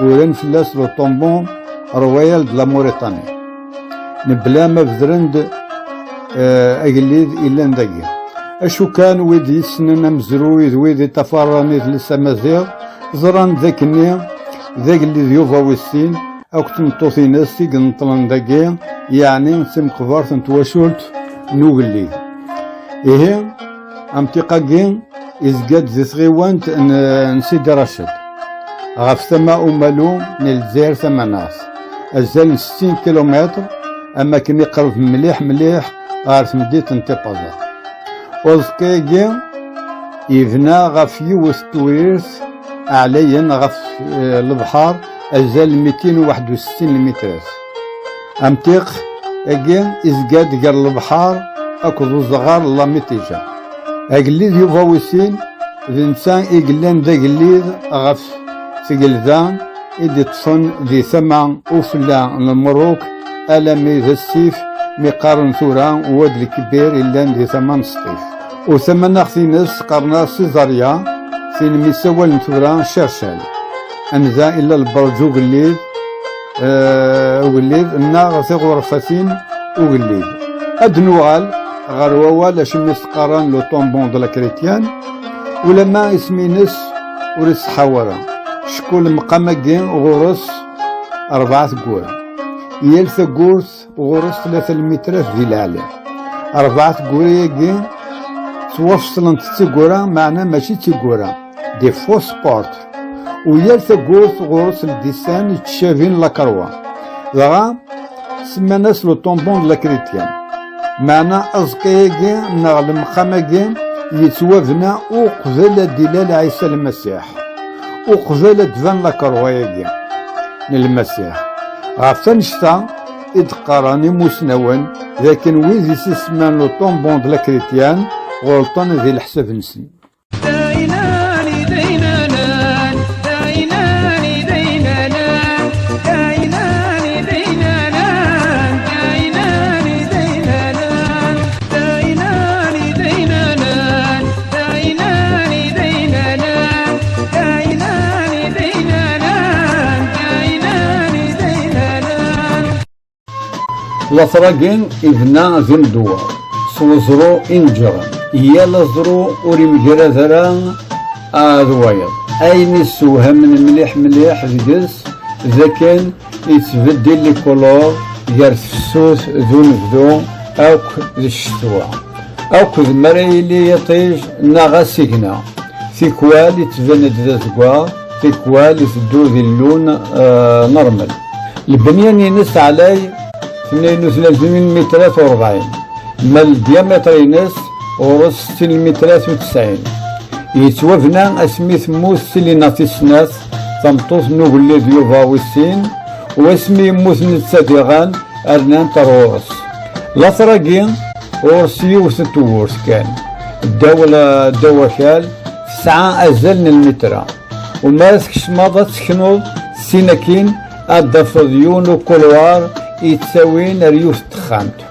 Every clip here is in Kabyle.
Uran fell-as le Tombon Royal de la Mauritanie. Mebla ma bedren-d eh, agellid illan dagi. Acu kan wid yessnen amezruy d wid i tafarran i tles amaziɣ, ẓran d akken-nni d agellid Yuba wis sin akk tmeṭṭut-ines i ineṭṭlen dagi, yeɛni d timqbert n twacult n ugellid. Ihi, Amtiq-agi izga-d di tɣiwant n Sidi Raced, ɣef tama umalu n Lezzayer tamanaɣt, azal n settin kilumitr, am wakken iqreb mliḥ mliḥ ɣer tmeddit n Tipaza. Uẓekka-agi yebna ɣef yiwet n tewrirt ɛlayen ɣef lebḥer, azal mitin u waḥed u settin limitras. Amtiq agi izga-d gar lebḥar akked uẓɣar n Lamitija. Agellid Yuba Wisin d netta i yellan d agellid ɣef tgelda i d-iṭṭfen di tama ufella n Merruk alami d asif mi qqaren tura Wad Lkbir yellan di tama n Sṭif. U tamanaɣt-ines qqaren-as Sizaria tin mi sawalen tura Cercel. Anda illa lberǧ ugellid ugellid nneɣ tiɣurfatin ugellid ad nuɣal ɣer wawal acimi teqqaren le tombon de la chrétienne ulamma isem-nnes ur iṣeḥḥaw ara cku lemqam-agi ɣur-s rebɛa tewwura yal tawwurt ɣur-s tlata lmitrat di leɛli rebɛa tegwura-agi ttwafeṣlent d tegwura meɛna mačči d tegwura des faux sports u yal tawwurt ɣur-s ldisan yettcabin lakerwa dɣa semman-as le tombon de la chrétienne meɛna aẓekka-agi neɣ lemqam-agi yettwabna uqbel ad d-ilal Ɛisa Lmasiḥ uqbel ad d-ban lakeṛwa-agi n Lmasiḥ. Ɣef wannect-a i d-qqaren imusnawen d akken wid i s-isemman le tombon de la chrétienne ɣelṭen di leḥsab-nsen. later-agi ibna d imdewwer s weẓru ineǧren yal aẓru ur yemgarad ara ad wayeḍ ayen yessewhamen mliḥ mliḥ deg-s d akken Yettbeddil likuluḍ gar tefsut d unebdu akk d ccetwa. Akk d mi ara yili yiṭij neɣ asigna. Tikwal yettban-d d azeggaɣ, tikwal iteddu di llun normal. Lbenya-nnes teɛlay tnayen u tlatin lmitrat u rebɛin, ma ldyamiṭr-nnes ɣur-s settin lmitrat u tesɛin. Yettwabna asmi temmut Selina tis snat tameṭṭut n ugellid Yuba wis sin, wasmi yemmut netta diɣen rnant ar ɣur-s. Later-agi, ɣur-s yiwet n tewwurt kan. Ddaw ddaw akal, tesɛa azal n lmitra. U mi ara tkecmeḍ ad teknuḍ sin akin ad d-tafeḍ yiwen ukulwar yettawin ar yiwet n texxamt.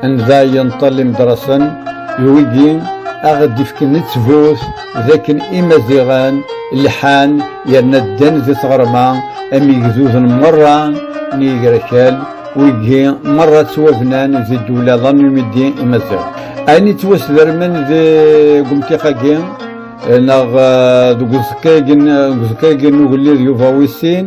Anda yenṭel imedṛasen d wigi aɣ d ifken ttbut d akken imaziɣen lḥan yerna ddan di tɣerma am igduden merra n yigrakal wigi merra ttwabnan di ddwla d anumidi imaziɣ ayen ittwasdermen di gumtiq-agi neɣ deg uẓekka-agi n ugellid yuba wis sin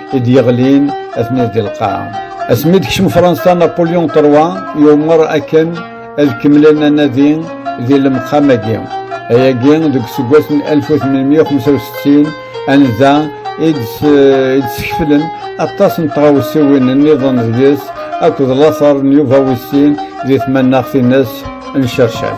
i d-yeɣlin ad d lqaɛa. Asmi d-kcem Fransa Napoleon III yumer akken ad kemmlen anadi di lemqam-agi. Ayagi deg useggas n 1865 anza i d-skeflen aṭas n tɣawsiwin nniḍen deg-s akked later n Yuba Wis Sin di tmannaɣt-nnes n Cercel.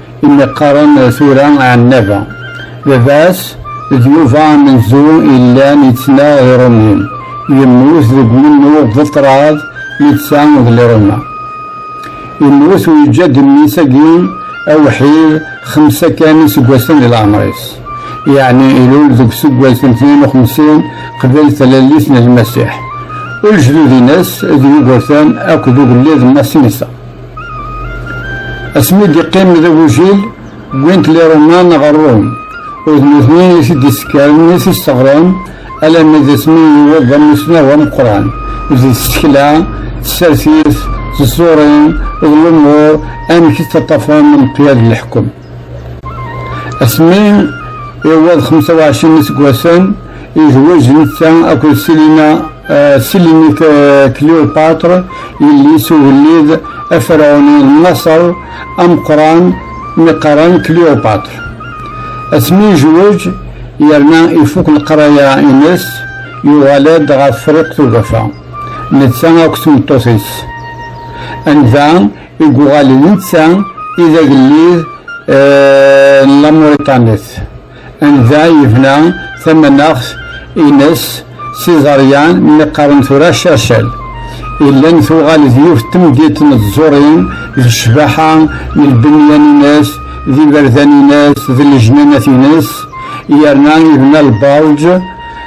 Imi qqaren tura Ɛennaba, baba-s d Yuba amenzu yellan yettnaɣ d Iṛumyen, yemmut deg umennuɣ d ṭṭrad netta d Liruma. Yemmut u yeǧǧa-d mmi-s-agi awḥid xemsa kan iseggasen di leɛmer-is, yeɛni ilul deg useggas n tnin u xemsin qbel tlallit n Lmasiḥ, u lejdud-ines d Yugurten akked ugellid Masinisa. Asmi d-iqqim d agujil, wwin-t liruman ɣer Rum, u d nutni i t-id-isekkaren, i t-isteɣren, alammi d asmi i yewweḍ d amussnaw ameqqran d tsekla, tsertit, tẓurin, d lumuṛ amek i ttaṭṭafen imeṭṭyal n leḥkem. Asmi iwweḍ 25 iseggasen, yezweǧ netta akked Selina eh, Selini Cleopatra, yelli-s ugellid aferɛuni n Maṣer ameqqran mi qqaren Cleopatra. Asmi yezweǧ yerna ifuk leqraya-nnes, yuɣal-d ɣer Friqt Ugafa, netta akked tmeṭṭut-is. Anda i yuɣalen netta i d agellid n Lamuriṭanit, anda yebna tamanaɣt ines s iẓeryan mi qqaren tura Cacel, illan tuɣal d yiwet temdint n tẓurin d ccbaḥa n lbenyan ines, d iberdan ines, d lejnanat ines, yerna yebna lberǧ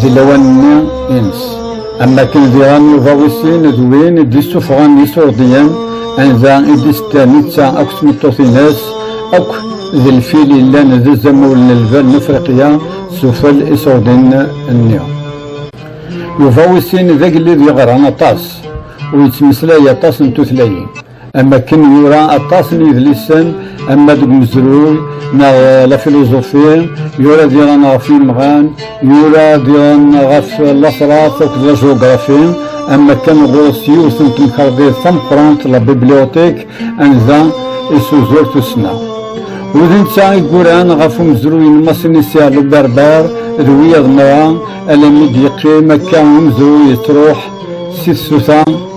Di lawan-nni ines, am wakken diɣen Yuba wis sin d win i d-yessuffɣen Isurdiyen, anida i d-yessedda netta akked tmeṭṭut-ines akk d lfil yellan d azamul n lbal n Afriqya s ufel isurdiyen-nni. Yuba wis sin d agellid yeɣran aṭas, ur yettmeslay aṭas n tutlayin. am akken yura aṭas n yidlisen ama deg umezruy neɣ la filozofi yura diɣen ɣef yimɣan yura diɣen ɣef lasrat akked la jugrafi am akken ɣur-s yiwet n temkarḍit tameqqrant la bibliotek anda isuzur tussna wi d netta i yuran ɣef umezruy n Masinisia Luberber d wiyaḍ nra alammi d-yeqqim akka umezruy yettruḥ si tsuta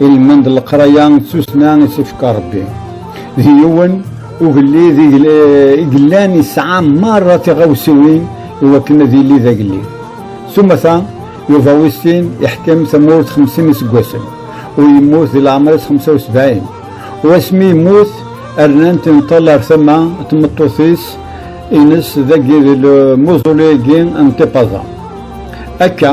ilmend n leqraya d tussna i s-ifka Rebbi. D yiwen ugellid i yellan yesɛa merra tiɣawsiwin i wakken ad yili d agellid. S umata, Yuba wis sin iḥkem tamurt xemsin iseggasen u yemmut di leɛmer-is xemsa u sebɛin. U asmi yemmut, rnant imeṭṭal ar tama n tmeṭṭut-is ines dagi di lmuzulay-agi n Tipaza. Akka,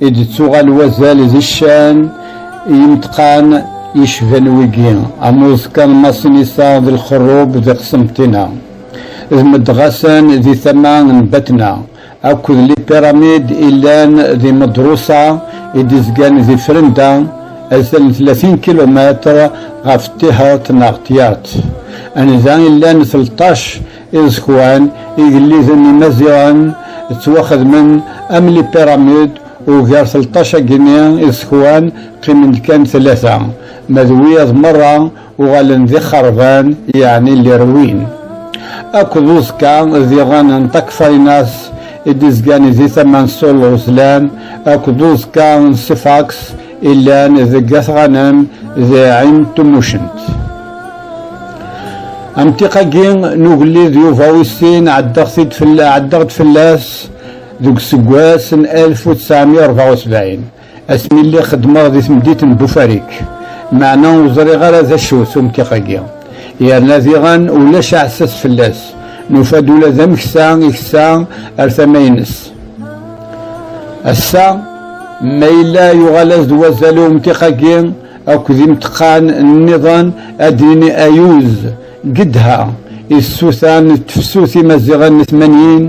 I d-tuɣal wazal d ccan i yimeṭqan yecban wigi, am uẓekka n Masinisa d Lxerrub di Qsenṭina, d Medɣasen di tama n Batna, akked lipiramid i llan di Medrusa i d-izgan di Frenda, azal n tlatin kilumetr ɣef Tihert neɣ Tyaṭ, anda i llan tleṭṭac Iẓekwan igelliden imaziɣen ttwaxedmen am les pyramides, ugar telṭac agini iẓekwan qqimen-d kan tlata, ma d wiyaḍ merra uɣalen d ixerban yeɛni les ruines. Akk d uẓekka d iḍan n Takfarinas i d-izgan di tama n Sulu Zlan, akk d uẓekka n Sifax Illan deg At Ɣanam d Ɛin Tumucent. Amtiq-agi n ugellid Yuba wis sin ɛeddaɣ-t-id fell- ɛeddaɣ-d fell-as deg useggas n 1974 asmi lliɣ xeddmeɣ di temdit n Bufarik, meɛna ur ẓriɣ ara d acu-t umtiq-agi, yerna diɣen ulac aɛessas fell-as, nufa-d ula d ameksa iksa ar tama-ines. Ass-a, ma yella yuɣal-as-d wazal i umtiq-agi akked imteqqan nniḍen, ad d-nini ayuz, Gedha, i tsuta n tefsut imaziɣen n tmanyin,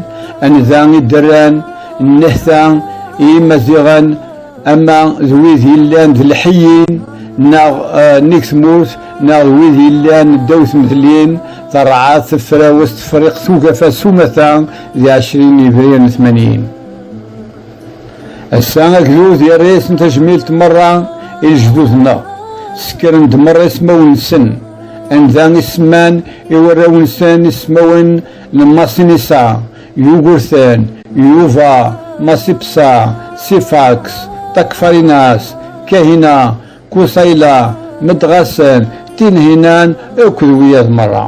anda i d-rran nnehta i yimaziɣen ama d wid yellan d lḥeyyin neɣ nnig tmurt neɣ d wid yellan ddaw tmedlin, terɛad tefrawest Friqt ugafa s umata, di ɛecrin yebrir n tmanyin ass-a agdud yerra-yasen tajmilt merra i lejdud-nneɣ sekkren-d merra ismawen-nsen anda i semman i warraw-nsen ismawen n Masinisa Yugurten Yuva Masipsa Sifaks Takfarinas Kahina Kuthayla, Medɣasen, Tinhinan akked wiyaḍ merra.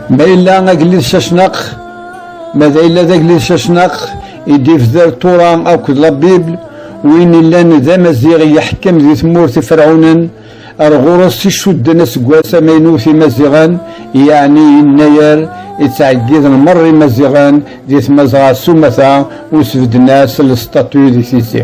Ma yella agellid Cacnaq, ma d ayla d agellid Cacnaq, i d-ifder Tura akked la Bible, win illan d amaziɣ yeḥkem di tmurt iferɛunen, ar ɣur-s i cudden aseggas amaynut imaziɣen, yeɛni yennayer ittɛeggiden merra imaziɣen di tmazɣa s umata, u sbedden-as lestatu di tizi.